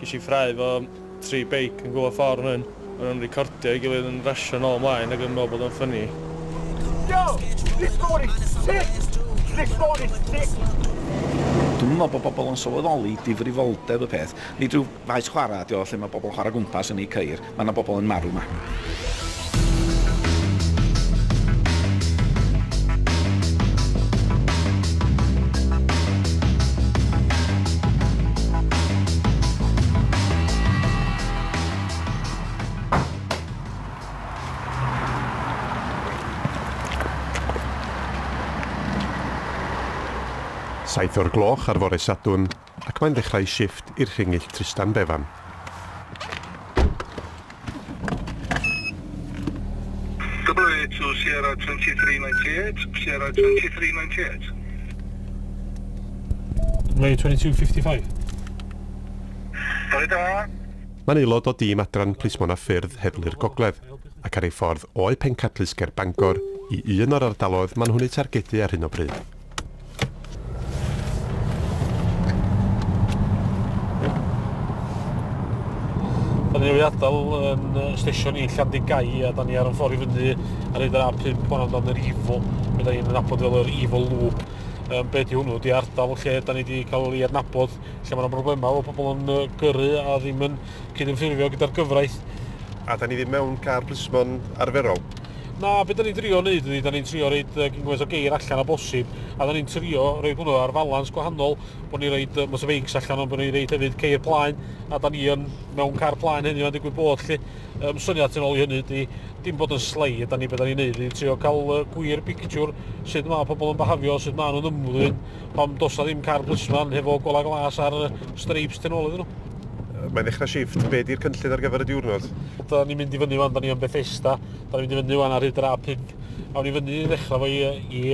Ges i ffrae fo tri beic yn gwyllo ffordd fan hyn. O'n nhw'n recordio i gilydd yn rasio nôl ymlaen ac yn meddwl bod o'n ffynnu. Yo! This board is sick! This board is sick! Dwi'm yn meddwl bod bobl yn sylweddoli difrifoldeb y peth. Nid rhyw faes chwarae ydy o lle mae bobl yn chwarae gwmpas yn eu ceir. Mae 'na bobl yn marw 'ma. Saith o'r gloch ar fore Sadwrn, ac mae'n dechrau shifft i'r Rhingyll Trystan Bevan. WA to Sierra 2398, Sierra 2398. WA 2255. Bore da. Mae'n aelod o dîm adran Plismon a Ffyrdd Heddlu'r Gogledd, ac ar ei ffordd o'u pencadlys ger Bangor i un o'r ardaloedd maen nhw'n eu targedu ar hyn o bryd. Da ni wedi adael yn uh, stesion i Llandigau a da ni ar y ffordd i fyny ar hyd yr A5 hwn amdano'n yr Ifo. Fe da ni'n nabod fel yr Ifo Loop. Um, be di hwnnw? Di ardal lle da ni wedi cael ei adnabod lle mae yna broblemau o pobl yn uh, gyrru a ddim yn cydymffurfio gyda'r gyfraith. A da ni ddim mewn car plismon arferol? Na, be da ni'n trio wneud ydy, da ni'n trio roed uh, gyngwaith o geir allan o bosib, a da ni'n trio roed hwnnw ar falans gwahanol, bod ni'n roed uh, motorbikes allan, ond bod ni'n roed hefyd ceir plaen, a da ni yn mewn car plaen hynny o'n digwydd bod lle. Um, syniad yn ôl i hynny ydy, dim bod yn slei, da ni beth da ni'n neud, ni'n trio cael uh, gwir pictiwr sut mae pobl yn behafio, sut mae nhw'n ymddwyn, pam dos na ddim car blisman hefo gola glas ar uh, streips tenol iddyn nhw. Mae'n ddechrau shift. Be di'r cynllun ar gyfer y diwrnod? Da ni'n mynd i fyny fan, da ni yn Bethesda. Da ni'n mynd i fyny fan ar hyd yr A5. Awn ni fyny i ddechrau fo i, i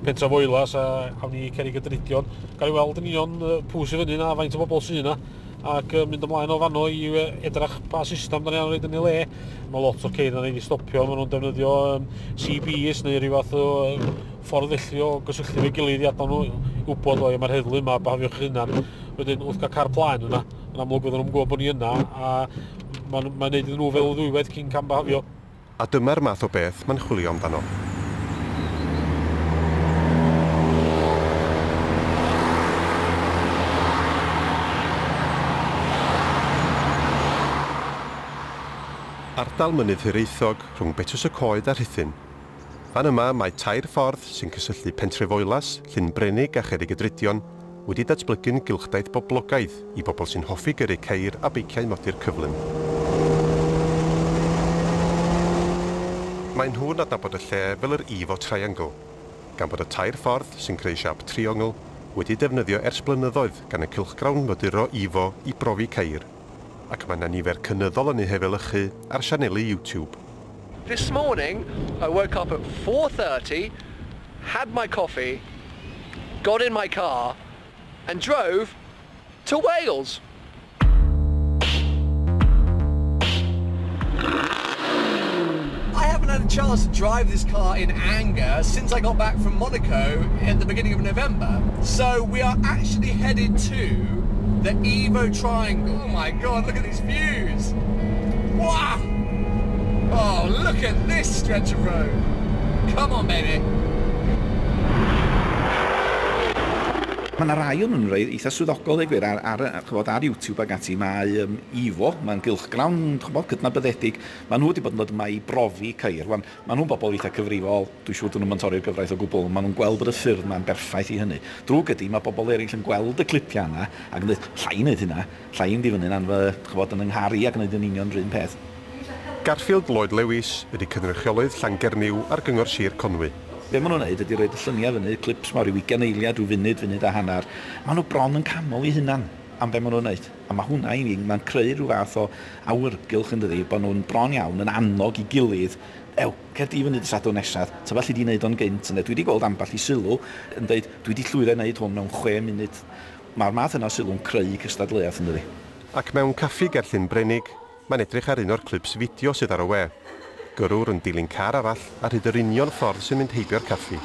Pentra Foelas a awn ni Cerig y Drydion. Gael ei weld yn union pw sy'n fyny na, faint o bobl sy'n yna ac mynd ymlaen o fanno i edrach pa system da ni angen roed yn ei le. Mae lot o'r ceir yn ei stopio, maen nhw'n defnyddio um, CBs neu rhywbeth o ffordd felly o gysylltu efo'i gilydd i adnod nhw, i wybod o, mae'r heddlu yma, bahafiwch eich hunan. Wedyn, wrth gael car plaen yna, yn amlwg oedden nhw'n gwybod bod ni yna, a mae'n ma gwneud iddyn nhw fel ddwywaith cyn cam bahafio. A dyma'r math o beth mae'n chwilio amdano. Ardal mynydd Hiraethog, rhwng Betws-y-coed a Rhuthun. Fan yma mae tair ffordd sy'n cysylltu Pentrefoelas, Llyn Brenig a Cherrigydrudion wedi datblygu'n gylchdaith boblogaidd i bobl sy'n hoffi gyrru ceir a beiciau modur cyflym. Maen nhw'n adnabod y lle fel yr Evo Triangle, gan bod y tair ffordd sy'n creu siâp triongl wedi defnyddio ers blynyddoedd gan y cylchgrawn moduro Evo i brofi ceir. Ac mae 'na nifer cynyddol yn eu hefelychu ar sianeli YouTube. This morning I woke up at four thirty, had my coffee, got in my car and drove to Wales! I haven't had a chance to drive this car in anger since I got back from Monaco at the beginning of November. So we are actually headed to the Evo Triangle. Oh my god, look at these views! Wow! Oh, look at this stretch of road! Come on, baby! Mae yna rai o'n nhw'n eitha swyddogol, ei gwir, ar, ar, chybod, ar YouTube ac ati. Mae um, Ifo, mae'n gylchgrawn chybod, cydnabyddedig, Maen nhw wedi bod yn dod yma i brofi ceir. Wan, maen nhw'n bobl eitha' cyfrifol, dwi'n siŵr 'dyn nhw'm yn torri'r gyfraith o gwbl, ond maen nhw'n gweld bod y ffyrdd 'ma'n berffaith i hynny. Drwg ydi, mae pobl eraill yn gweld y clipiau yna ac yn dweud, 'lla i wneud hynna, 'lla i fynd i fyny'n anf-, chibod, yn 'y nghar i ac wneud yn union yr un peth. Garfield Lloyd Lewis ydi cynrychiolydd Llangernyw ar Gyngor Sir Conwy. Be' maen nhw'n wneud ydi rhoid y lluniau fyny, clips 'ma o ryw ugain eiliad, ryw funud, funud a hanner. Maen nhw bron yn canmol eu hunan am be' maen nhw'n wneud. A mae hwnna i mi, mae'n creu rhyw fath o awyrgylch yn dydi, bod nhw'n bron iawn yn annog i gilydd, ew, cer di fyny dy Sadwrn nesaf, tybed alli di wneud o'n gynt ynde. Dwi 'di gweld ambell i sylw yn deud, dwi 'di llwyddo i wneud hwn mewn chwe munud. Mae'r math yna o sylw'n creu cystadleuaeth yn dydi? Ac mewn caffi ger Llyn Brenig, Mae'n edrych ar un o'r clips fideo sydd ar y we. Gyrrwr yn dilyn car arall ar hyd yr union ffordd sy'n mynd heibio'r caffi.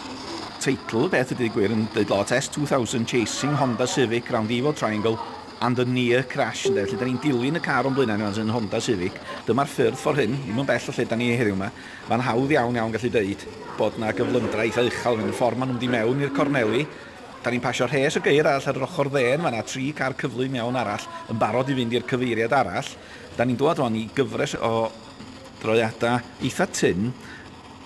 Teitl, Beth ydy gwir yn deud lot, S 2000 chasing Honda Civic round the Ivo Triangle and a near crash ynde, felly 'da ni'n dilyn y car o'n blaenau ni rŵan sy'n Honda Civic, dyma'r ffyrdd ffordd hyn, ddim yn bell o lle 'da ni heddiw 'ma, ma'n hawdd iawn iawn gallu deud bod 'na gyflymdra eitha uchel yn mynd y ffordd ma' nhw'n mynd i mewn i'r corneli, Da ni'n pasio rhes y geir arall ar yr ochr dde yn fan'na, tri car cyflym iawn arall yn barod i fynd i'r cyfeiriad arall. Da ni'n dwad rwan i gyfres o droiada eitha tynn,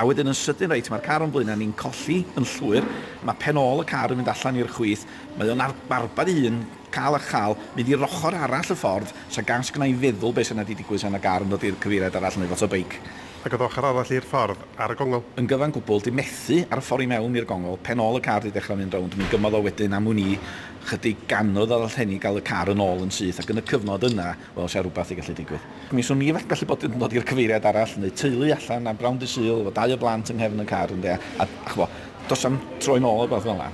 a wedyn yn sydyn reit, mae'r car o'n blaena ni'n colli yn llwyr, mae pen ôl y car yn mynd allan i'r chwith, mae o'n arbad ei hun, cal a chal, mynd i'r ochr arall y ffordd, 'sa gas gynna i feddwl be' sa 'na 'di digwydd 'sa 'na gar yn dod i'r cyfeiriad arall neu foto beic. Ac oedd ochr arall i'r ffordd ar y gongl. Yn gyfan gwbl, di methu ar y ffordd i mewn i'r gongl, pen ôl y car di dechrau mynd rownd, mi gymodd o wedyn am wn i chydig gannoedd a ddallt heni gael y car yn ôl yn syth ac yn y cyfnod yna, wel, sha rwbath di gallu digwydd. Mi swn i fell gallu bod yn dod i'r cyfeiriad arall, neu teulu allan am bnawn dy Sul efo dau o blant yng nghefn y car ynde, a ch'bo, does am troi nôl a rwbath fel'a.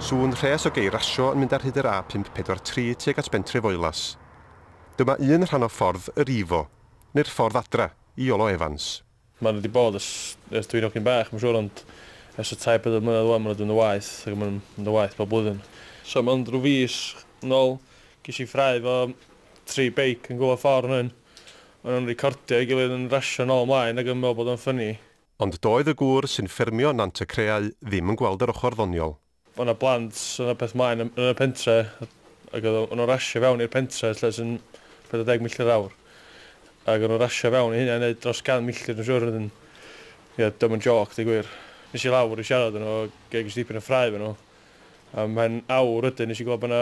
Sŵn rhes o gei rasio yn mynd ar hyd yr A543 tuag at bentre Foelas. Dyma un rhan o ffordd yr Ifo, neu'r ffordd adra, i Iolo Evans. Maen nhw 'di bod ers ers dwi'n hogyn bach mae'n siŵr ond ers y tair pedwar mlynedd ŵan maen nhw 'di mynd yn waeth ac maen nhw'n mynd yn waeth bob blwyddyn. So mond rhyw fis yn ôl ges i ffrae efo tri beic yn gwylio ffordd fan hyn. O'n nhw'n recordio ei gilydd yn rasio nôl ymlaen ac yn meddwl bod o'n ffyni. Ond doedd y gŵr sy'n ffermio Nant-y-creau ddim yn gweld yr ochr ddoniol. O' 'na blant, o' 'na peth mlaen yn yn y pentre ag o'dd o- o' nw'n rasio fewn i'r pentre lle sy'n pedwar deg milltir yr awr ag o'n nw'n rasio fewn i hynna i neud dros gan milltir dwi'n siŵr wedyn ie 'di o'm yn jôc deu gwir. Es i lawr i siarad efo n'w ag ges dipyn o ffrae efo n'w am mhen awr wedyn nes i glwad bo' 'na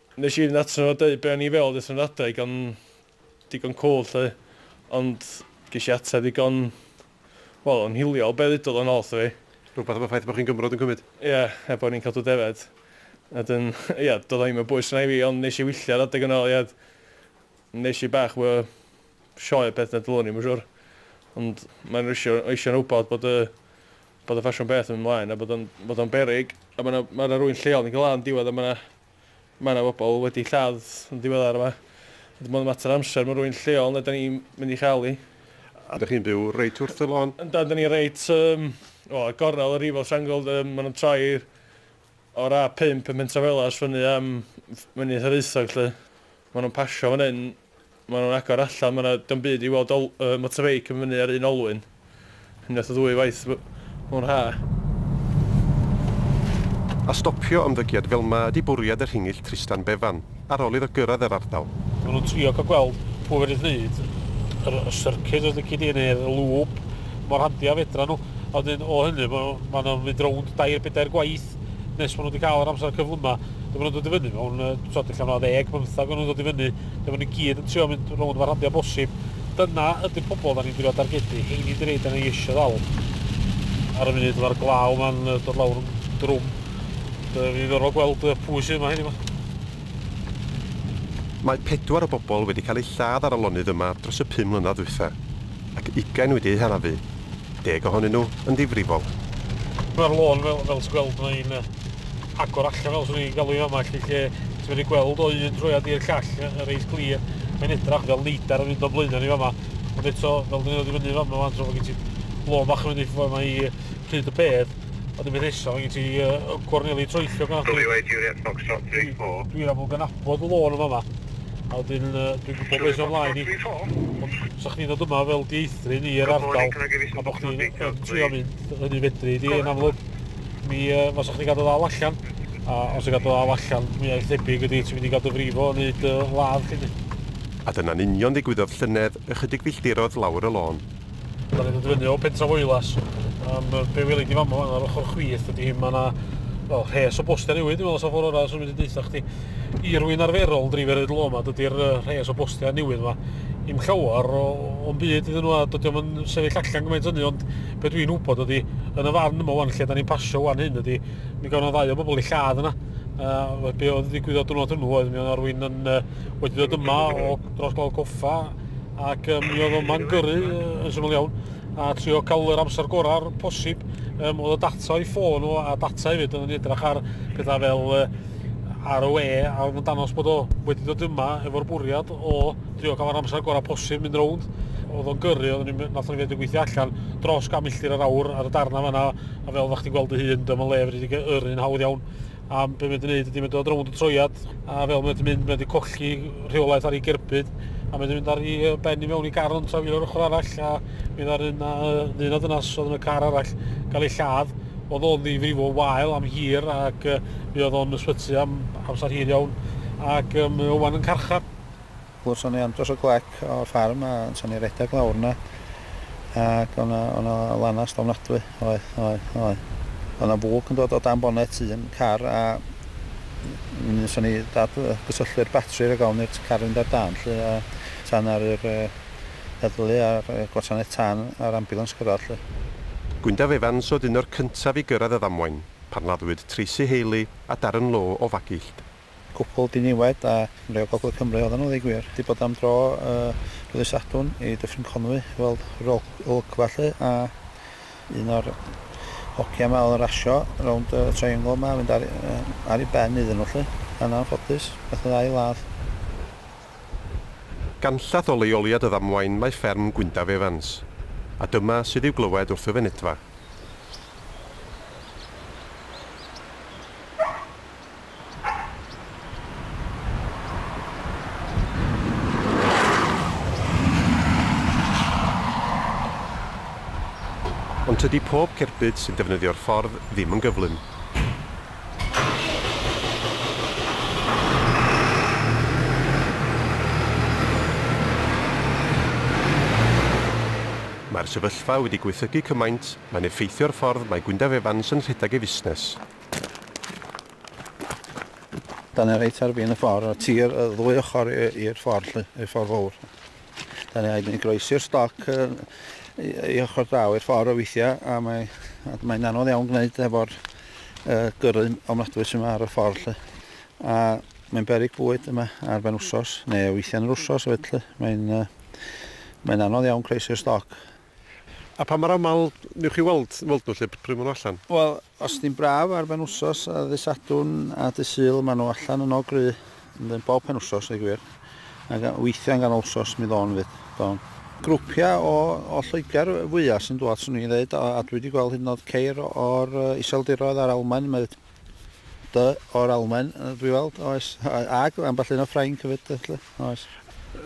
Nes i fynd atyn nhw a deud be o'n i feddwl wrth fy adeg o'n digon cwl 'lly ond ges i ateb ddigon, wel yn hiliol be ddudodd o'n ôl 'tho fi. Rhywbeth am y ffaith bod chi'n Gymro dwi'n cymryd? Ia, er bod ni'n cadw defaid. Wedyn ia, doedd o ddim yn bwys arna i fi ond nes i wylltio ar adeg yna ia, nes i bach mwy o sioe a peth na dylwn i, myn siŵr. Ond mae'n rwysio eisio'n wybod bod y bod y ffasiwn beth yn mynd mlaen a bod o'n bod o'n beryg a ma' 'na ma' 'na rywun lleol yn galw lan yn diwedd a ma' 'na Mae yna bobl wedi lladd yn ddiweddar yma. Dim ond mater o amser mae rhywun lleol neu 'da ni'n mynd i chael hi. A 'da chi'n byw reit wrth y lôn? Yndan, 'da ni reit yym wel ar gornel y Rifo Shangold yym ma' nhw'n troi o'r A pump ym Mhentrafelas fyny am Mynydd Hiraethog 'lly. Ma' nhw'n pasio fan hyn Maen nhw'n agor allan, mae 'na... dio'm byd i weld ol- yy motorbeic yn fyny ar un olwyn, unwaith neu ddwy waith m- mewn haf. A stopio ymddygiad fel 'ma ydi bwriad y Rhingyll Trystan Bevan, ar ol iddo gyrraedd yr ardal. Maen nhw'n trio cael gweld pwy fedrith wneud yr y syrcid os lici di, neu'r y lŵp mor handi a fedra nhw. A wedyn o hynny, ma' ma' nhw'n mynd rownd dair, bedair gwaith. dod nes maen nhw wedi cael yr amser cyflym yma, dyma nhw'n dod i fyny mewn, tod, allan o ddeg, bymthag o'n nhw'n dod i fyny, dyma nhw'n gyd yn trio mynd rownd mae'r rhandiau bosib. Dyna ydy'r pobol da ni'n drio dargedu, hyn i'n dweud yna i eisiau ddal. Ar y munud mae'r glaw yma'n dod lawr yn drwm, dwi'n ddiddorol gweld pwy sydd yma hyn yma. Mae pedwar o bobol wedi cael eu lladd ar y lonydd yma dros y pum mlynedd dwytha, ac ugain wedi eu hanafu. deg ohonyn nhw yn ddifrifol. Mae'r lôn fel, fel ti'n gweld, mae'n agor allan fel swn i'n galw hi'n fama, lle, lle ti'n medru gweld o un troiad i'r llall yn reit glir. Mae'n edrach fel leidar yn mynd o'n blaenau ni fama. Ond eto, fel dyn nhw'n dod i fyny fama fan tro, mae gen ti lôn bach yn mynd i ffwrdd yma i pryd y bedd. Ond y peth nesaf, mae gen ti uh, gorneli troellog yna. Dwi, dwi'n amlwg yn abod y lôn yma yma. A wedyn yy dwi'n gwybod beth sy'n ymlaen i. Ond sa chdi'n dod yma fel dieithryn i'r ardal a bod chdi'n yn trio mynd hynny fedri di yn amlwg mi uh, fasa chdi gadw ddal allan a os ti'n gadw ddal allan mwyaf thebyg ydy ti'n mynd i gael dy frifo yn neud uh, ladd chdi. A dyna'n union ddigwyddodd llynedd ychydig filltirodd lawr y lôn. Dan ni'n dod fyny o Pentra Foelas, um, be weli di fama fan ar ochr chwith ydy hyn, mae yna well, rhes o bostiau newydd, dwi'n meddwl sa'n ffordd orau, swn i'n deitha chdi. I rwy'n arferol yn dreifio rhaid lo yma, dydy'r rhes o bostiau newydd yma, i'm llawer o'n byd iddyn nhw, a dydy o'n sefyll allan gymaint hynny, ond be dwi'n wybod ydy, yn y fan yma wan, lle da ni'n pasio wan hyn ydy, mi gawn o'n ddau o bobl i lladd yna, uh, be oedd ddigwyddodd dwrnod hwnnw oedd mi o'n arwyn yn uh, wedi dod yma o dros glaw goffa ac um, mi oedd o'n man gyrru yn syml iawn a trio cael yr amser gorau'r posib um, oedd y data o'i ffôn o a data hefyd yn edrych ar pethau fel uh, ar y we a oedd yn danos bod o wedi dod yma efo'r bwriad o trio cael yr amser gorau posib mynd rownd oedd o'n gyrru, oedd ni'n nath o'n fyd yn gweithio allan dros gan milltir yr awr ar y darna fanna a fel ddech chi'n gweld y hun dyma le fyddi wedi yr un hawdd iawn a be mae wedi gwneud ydy mae'n dod rownd y troiad a fel mae wedi mynd mae wedi colli rheolaeth ar ei gerbyd a mae wedi mynd ar ei ben i mewn i gar o'n trafio ar ochr arall a mi dda'r un a ddyn a dynas oedd yn y car arall gael ei lladd oedd o'n ddifrifo wael am hir ac uh, mi oedd o'n ysbyty am amser hir iawn ac um, mae o'n yn carchar. Wel so ni am dros y clec o'r ffarm a so ni redeg lawr yna ac o' na o' na lanast ofnadwy oedd oedd oedd. O' na fwg yn dod o dan bonet un car a m- mi so ni dad yy gysylltu'r batri rag ofn i'r t- car fynd ar dân 'lly a so na'r yr yy heddlu a'r yy gwasanaeth tân a'r ambiwlans cyrradd 'lly. Gwyndaf Evans oedd un o'r cyntaf i gyrradd y ddamwain pan laddwyd Tracey Haley a Darren Lowe o Fagillt. Cwpwl diniwed a chymreig o Gogledd Cymru oedden nhw, ddeu gwir. Wedi bod am dro ddydd Sadwrn i Dyffryn Conwy i weld yr olygfa 'lly, a un o'r hogia 'ma oedd yn rasio rownd y triangle 'ma a mynd ar ar ei ben iddyn nhw 'lly, yn anffodus, methu â'i ladd. Ganllath o leoliad y ddamwain mae fferm Gwyndaf Evans, a dyma sydd i'w glywed wrth y fynedfa. Ond tydi pob cerbyd sy'n defnyddio'r ffordd ddim yn gyflym. Mae'r sefyllfa wedi gwaethygu cymaint, mae'n effeithio'r ffordd mae Gwyndaf Evans yn rhedeg ei fusnes. Dan ni reit ar fin y ffordd, y tir y ddwy ochr i'r ffordd lly, i'r ffordd fawr. Dan ni rhaid ni groesi'r stoc i ochr draw i'r ffordd o weithiau a mae, a mae'n anodd iawn gwneud efo'r y gyrru ofnadwy sy'n ar y ffordd lly. A mae'n berig bwyd yma ar ben wsos, neu weithiau yn yr wsos hefyd lly. Mae'n uh, mae'n anodd iawn croesi'r stoc. A pa mor aml newch chi weld, weld nhw lle pryd maen nhw allan? Wel, Os di'n braf ar benwsos a ddy Sadwrn a dy Sul ma nhw allan yno gry yndyn bob penwsos ddeud gwir a ga weithia yn ganol wsos mi ddo'n fyd do'n. Grwpia o o Lloegr fwya sy'n dwad swn i'n ddeud a a dwi di gweld hyd yn oed ceir o'r Iseldiroedd a'r Almaen mae dy o'r Almaen dwi weld oes a ag ambell un o Ffrainc hefyd felly oes.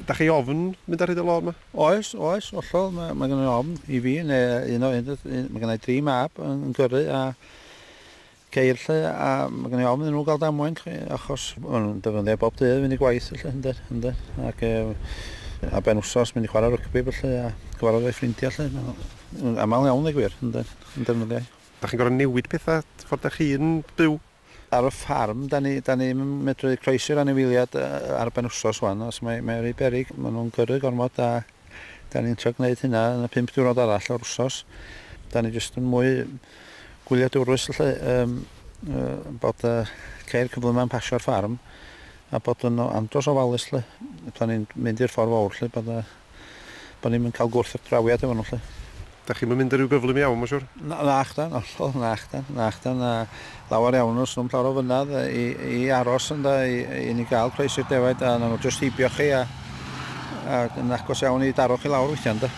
Dach chi ofn mynd ar hyd y lôn ma? Oes, oes, hollol, mae, mae gennau ofn i fi, neu un o un, mae gennau dri mab yn gyrru a ceir lle, a mae gennau ofn iddyn nhw gael damwain, chi, achos maen nhw'n defnyddio bob dydd fynd i gwaith, felly, ynddo, ynddo, ac e, a ben wsos mynd i chwarae rygbi, felly, a gyfarfod ei ffrindiau, lle, yn aml iawn, ei gwir, ynddo, yn defnyddio. Da chi'n gorfod newid pethau ffordd da chi'n byw? Ar y ffarm, dan ni, dan ni'm yn medru croesi'r anifeiliad ar ben wsos ŵan, os mae, mae o rhy beryg, maen nhw'n gyrru gormod a dan ni'n trio gwneud hynna yn y pump diwrnod arall o'r wsos. Dan ni jyst yn mwy gwyliadwrus lle, um, uh, bod uh, ceir cyflymau'n pasio'r ffarm a bod yn andros ofalus lle. Pan ni'n mynd i'r ffordd fawr lle bod uh, bo ni'm yn ca'l gwrthdrawiad efo nhw 'lly. Dach chi'm yn mynd ar ryw gyflym iawn ma'n siŵr? Na- nachdan, hollol, nachdan, nachdan, a lawer iawn o swm llawer o fynedd i i aros ynde i i ni ga'l croesi'r i'r defaid a nawn nhw jyst heibio chi a a yn agos iawn i daro chi lawr weithia' ynde?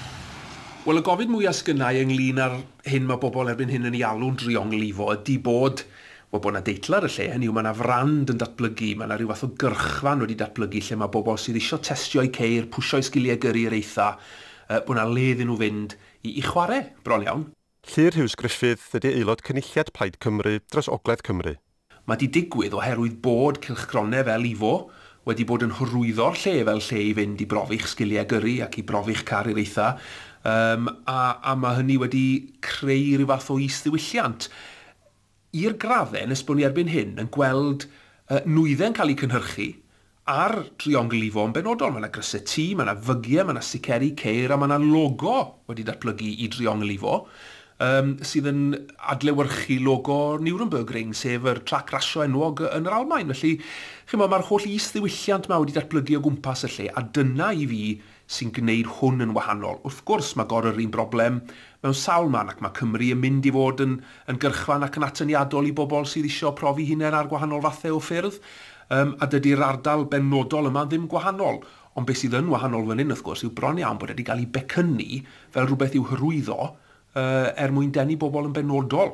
Wel y gofid mwya' sgynnai ynglŷn â'r hyn ma' bobol erbyn hyn yn ei alw'n drionglifo ydi bod Wel, bod 'na deitl ar y lle, hynny yw, mae 'na frand yn datblygu, mae 'na ryw fath o gyrchfan wedi datblygu lle mae bobl sydd isio testio'u ceir, pwsio'u sgiliau gyrru i'r eitha', yy, bod 'na le iddyn nhw fynd i i chwarae, bron iawn. Llyr Huws Gruffydd ydy aelod Cynulliad Plaid Cymru dros Ogledd Cymru. Mae 'di digwydd oherwydd bod cylchgronau fel Ifo wedi bod yn hyrwyddo'r lle fel lle i fynd i brofi'ch sgiliau gyrru ac i brofi'ch car i'r eitha', yym, a a ma' hynny wedi creu ryw fath o is-ddiwylliant. i'r graddau nes bod ni erbyn hyn yn gweld nwyddau'n cael eu cynhyrchu ar driongl Ifo yn benodol. Mae yna grysau tŷ, mae yna fygiau, mae yna siceri ceir a mae yna logo wedi datblygu i driongl Ifo sydd yn adlewyrchu logo Nürnbergring, sef yr trac rasio enwog yn yr Almaen. Felly, chi'n gwybod, mae'r holl is-ddiwylliant yma wedi datblygu o gwmpas y lle a dyna i fi sy'n gwneud hwn yn wahanol. Wrth gwrs, mae gor yr un broblem mewn sawl man ac mae Cymru yn mynd i fod yn yn gyrchfan ac yn atyniadol i bobl sydd isio profi hunain ar gwahanol fathau o ffyrdd yym a dydy'r ardal benodol yma ddim gwahanol. Ond beth sydd yn wahanol fan hyn, wrth gwrs, yw bron iawn bod e wedi cael ei becynnu fel rhywbeth i'w hyrwyddo yy er mwyn denu bobl yn benodol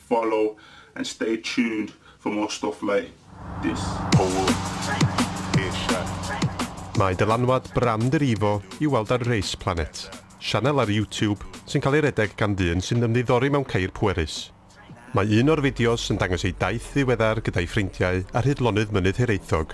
Follow and stay tuned for more stuff like this. Pole Asia. Mae dylanwad brand yr Evo i'w weld ar Race Planet, sianel ar YouTube sy'n cael ei redeg gan ddyn sy'n ymddiddori mewn ceir pwerus. Mae un o'r fideos yn dangos ei daith ddiweddar gyda'i ffrindiau ar hyd lonydd Mynydd Hiraethog.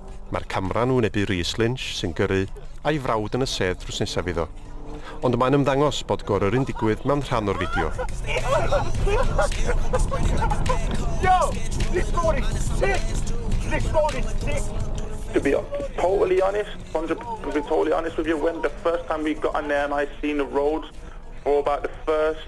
Mae'r camera yn wynebu Rees Lynch sy'n gyrru a'i frawd yn y sedd drws nesaf iddo. Ond mae'n ymddangos bod goryrru'n digwydd mewn rhan o'r fideo. To be totally honest, to be totally honest with you, when the first time we got in there and I seen the roads for about the first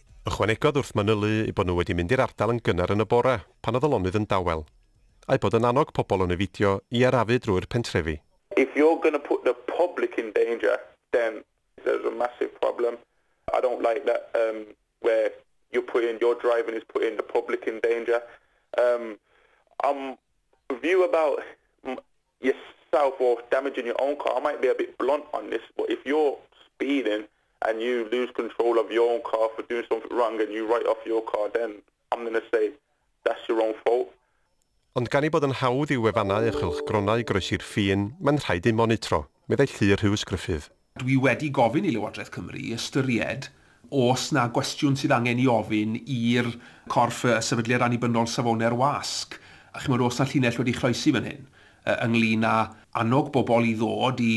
Ychwanegodd wrth manylu eu bod nhw wedi mynd i'r ardal yn gynnar yn y bore pan oedd y lonydd yn dawel, a'u bod yn annog pobl o Nevidio i arafu drwy'r pentrefi. If you're going to put the public in danger then there's a massive problem. I don't like that erm where you're putting, your driving is putting the public in danger. Erm I'm view about Yes so for damaging your own car I might be a bit blunt on this but if you're speeding and you lose control of your own car for doing something wrong and you write off your car then I'm gonna say that's your own fault. Ond gan ei bod yn hawdd i'w wefannau a chylchgronau groesi'r ffin, mae'n rhaid eu monitro, meddai Llu Rhys Gruffydd. Dwi wedi gofyn i Lywodraeth Cymru ystyried os 'na gwestiwn sydd angen 'i ofyn i'r corff y Sefydliad Annibynnol Safonau'r Wasg, a chimod, oes 'na llinell wedi chloesi fan hyn yy ynglŷn â annog bobl i ddod i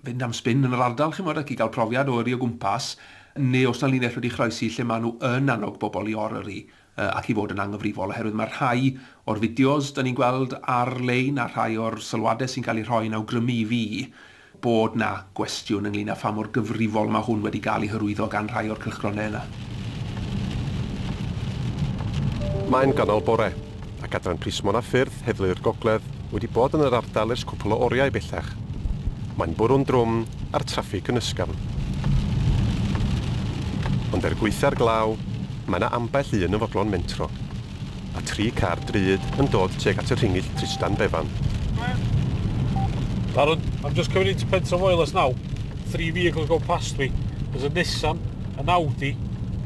fynd am sbin yn yr ardal, chimod, ac i gael profiad o yrru o gwmpas, neu oes 'na linell wedi chloesi lle maen nhw yn annog bobl i or-yrru ac i fod yn anghyfrifol oherwydd mae rhai o'r fideos dan ni'n gweld ar-lein a rhai o'r sylwadau sy'n cael eu rhoi yn awgrymu i fi bod 'na gwestiwn ynglŷn â pha mor gyfrifol mae hwn wedi cael ei hyrwyddo gan rhai o'r cylchgronau yna. Mae'n ganol bore, ac adran plismon a ffyrdd Heddlu'r Gogledd Wedi bod yn yr ardal ers cwpl o oriau bellach. Mae'n bwrw'n drwm a'r traffig yn ysgafn. Ond er gwaetha'r glaw, mae yna ambell un yn fodlon mentro. Mae tri car drud yn dod tuag at y rhingyll Trystan Bevan. Darren, I'm just coming into Pentre-Voelas now. Three vehicles go past me. There's a Nissan, an Audi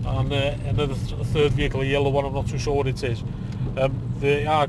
and another third vehicle, a yellow one, I'm not too sure what it is. Umm, they are...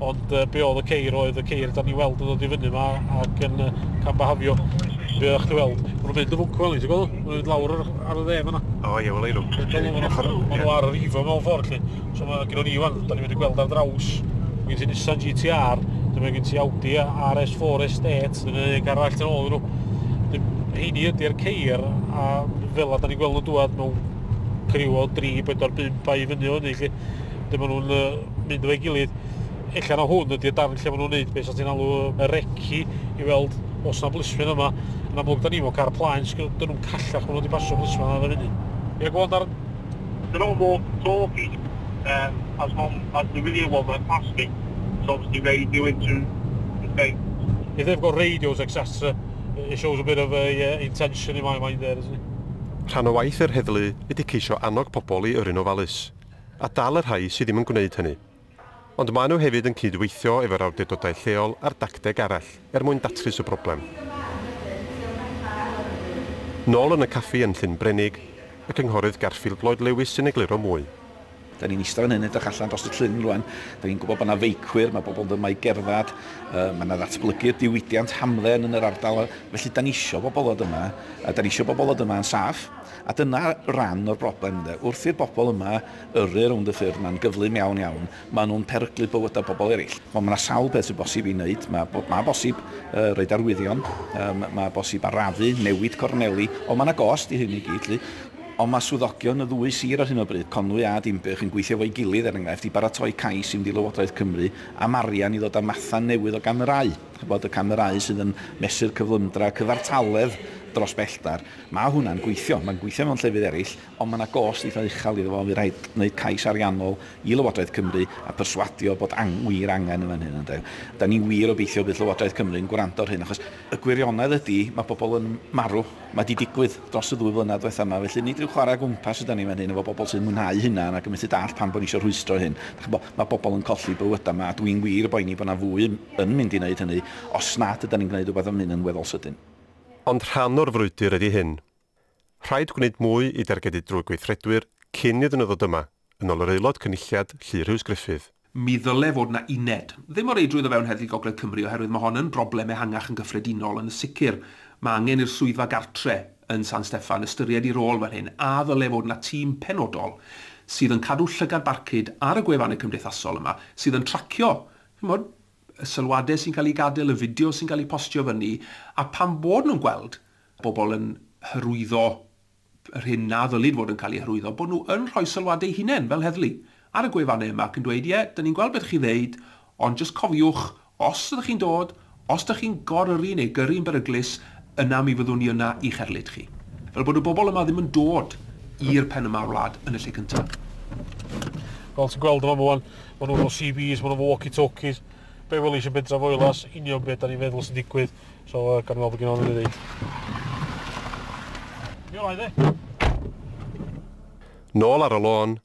Ond be oedd y ceir oedd y ceir da ni weld yn dod i fyny yma ac yn cam bahafio. Be oeddech chi weld? Mae nhw'n mynd yn fwncw elni, ti'n gweld? Mae nhw'n mynd lawr ar, ar y dde fyna. O ie, wel ei nhw. Mae nhw ar yr ifo mewn ffordd lle. So mae gen ni wan, da ni'n mynd i gweld ar draws. Mae gen ti Nissan GTR, dyma gen ti Audi RS4 Estate, dyna un garall yn ôl nhw. Heini ydy'r ceir a fel a da ni'n gweld nhw'n dŵad mewn criw o 3, 4, 5 a i fyny o hynny lle. lle maen nhw'n mynd efo'i gilydd. Ella na hwn ydy'r darn lle maen nhw'n neud beth sy'n ti'n alw y regi i weld os na blisfyn yma. Yn amlwg, da ni fo car plaen, sgil dyn nhw'n callach maen nhw wedi pasio blisfyn yna yn y funud. Ie, gwael darn. Dyn nhw'n mor torfi, um, as long as the real one went past me, it's obviously radio into the thing. If they've got radios, etc, it shows a bit of a uh, intention in my mind there, doesn't it? Rhan o waith yr heddlu ydy ceisio annog pobl i yrru'n ofalus. a dal y rhai sydd ddim yn gwneud hynny. Ond maen nhw hefyd yn cyd-weithio efo'r awdurdodau lleol ar dacteg arall er mwyn datrys y broblem. Nôl yn y caffi yn Llyn Brenig, y Cynghorydd Garfield Lloyd Lewis sy'n egluro mwy. Dan ni'n eistedd fan hyn yn edrych allan dros y llyn rwan. Dan ni'n gwybod bod yna feicwyr, mae bobl yn dod yma i gerdded, uh, mae yna ddatblygu'r diwydiant hamdden yn yr ardal, felly dan ni eisiau bobl ddod yma, a dan ni eisiau bobl ddod yma yn saff. A dyna ran o'r broblem ynde, wrth i'r bobl yma yrru rownd y ffyrdd ma'n gyflym iawn iawn, maen nhw'n peryglu bywydau pobl eraill. Wel mae 'na sawl peth sy'n bosib i wneud, mae mae bosib yy roid arwyddion, yym mae bosib arafu, newid corneli, ond mae 'na gost i hyn i gyd 'lly. Ond mae swyddogion y ddwy sir ar hyn o bryd, Conwy a Dinbych, yn gweithio efo'i gilydd er enghraifft i baratoi cais i fynd i Lywodraeth Cymru am arian i ddod â matha newydd o gamerâu, ch'bod y camerâu sydd yn mesur cyflymdra, cyfartaledd dros belltar. Mae hwnna'n gweithio, mae'n gweithio mewn llefydd eraill, ond mae yna gost eitha' uchel iddo fo, fydd rhaid wneud cais ariannol i Lywodraeth Cymru a perswadio bod ang- wir angen yn fan hyn ynde. Dan ni wir obeithio bydd Llywodraeth Cymru'n gwrando ar hyn achos y gwirionedd ydi mae pobl yn marw, mae 'di digwydd dros y ddwy flynedd diwetha' yma felly nid ryw chwarae o gwmpas ydan ni fan hyn efo bobl sy'n mwynhau hynna ac yn methu dallt pam bod ni isio rhwystro hyn. Dach chi'n gwybod, mae bobl yn colli bywydau yma a dwi'n wir yn boeni bod 'na fwy yn mynd i wneud hynny os nad ydan ni'n gwneud rhywbeth am hyn yn weddol sydyn. Ond rhan o'r frwydr ydi hyn. Rhaid gwneud mwy i dargedu drwy gweithredwyr cyn iddyn nhw ddod yma, yn ôl yr Aelod Cynulliad Llu Rhys Gruffydd. Mi ddyle fod 'na uned. Ddim o reidrwydd o fewn Heddlu Gogledd Cymru oherwydd mae hon yn broblem ehangach yn gyffredinol, ond yn sicr mae angen i'r Swyddfa Gartre yn San Steffan ystyried ei rôl fan hyn a ddyle fod 'na tîm penodol sydd yn cadw llygad barcud ar y gwefannau cymdeithasol yma sydd yn tracio, chi'n gwybod, y sylwadau sy'n cael eu gadael, y fideos sy'n cael eu postio fyny, a phan bod nhw'n gweld pobl yn hyrwyddo yr hyn na ddylid fod yn cael ei hyrwyddo, bod nhw yn rhoi sylwadau eu hunain, fel heddlu, ar y gwefannau yma ac yn dweud, ie, da ni'n gweld beth chi'n ddeud, ond jyst cofiwch, os ydych chi'n dod, os ydych chi'n gor-yrru neu gyrru'n beryglus, Yna mi fyddwn ni yna i'ch erlid chi. Fel bod y bobl yma ddim yn dod i'r pen yma o'r wlad yn y lle cyntaf. Fel ti'n gweld yma Mwan, ma' nhw efo CBs, ma' nhw efo walkie talkies. Be' welis i Bentref Foelas, union be' 'dan ni'n feddwl sy'n digwydd. So yy gawn ni weld be' gynno fo i ddeud. Nôl ar y lôn,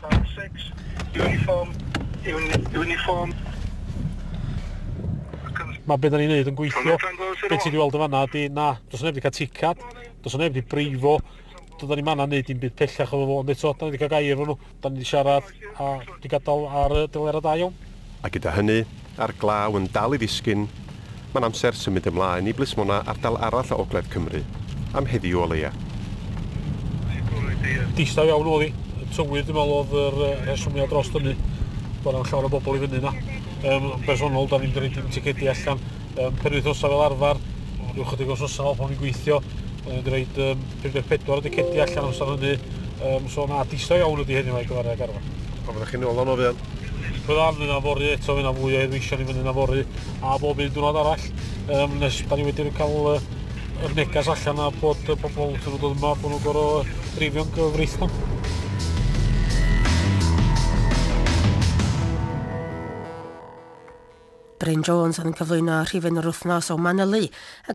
File 6, uniform, un, uniform. Mae beth da ni'n neud yn gweithio. Beth ti wedi weld yn fanna ydy, na, dos neb wedi cael ticad, dos neb wedi breifo, doedden ni manna neud i'n byd pellach o fo, ond eto, da ni wedi cael gair efo nhw, da ni wedi siarad, a wedi gadael ar y delerau da iawn. A gyda hynny, a'r glaw yn dal i ddisgyn, mae'n amser symud ymlaen i blismona ardal arall o ogledd Cymru, am heddiw o leia. Distaw iawn oedd hi, y tywydd dwi'n meddwl oedd yr rhesymiad dros dynnu, bod na'm llawer o bobl i fyny yna. Yn bersonol, 'da ni'm 'di roid dim ticedi allan. Yym penwythnosau fel arfer, rhyw chydig wsnosa nôl pan o'n i'n gweithio, o'n i'n roid um, 54 y decedi allan amser hynny, um, so na, disau iawn ydy heddiw mae gyfer y garfan. Pan fyddech chi'n ôl o'n o fel? Byddan, fyna fori eto, fyna fwy o heddweision i fyny na fori, a bob un diwrnod arall, um, nes da ni wedi cael uh, yr negas allan a bod y pobl sy'n dod yma, bod nhw'n gorau dreifio'n gyfreithlon. Bryn Jones oedd yn cyflwyno rhifyn yr wythnos o Manylu ac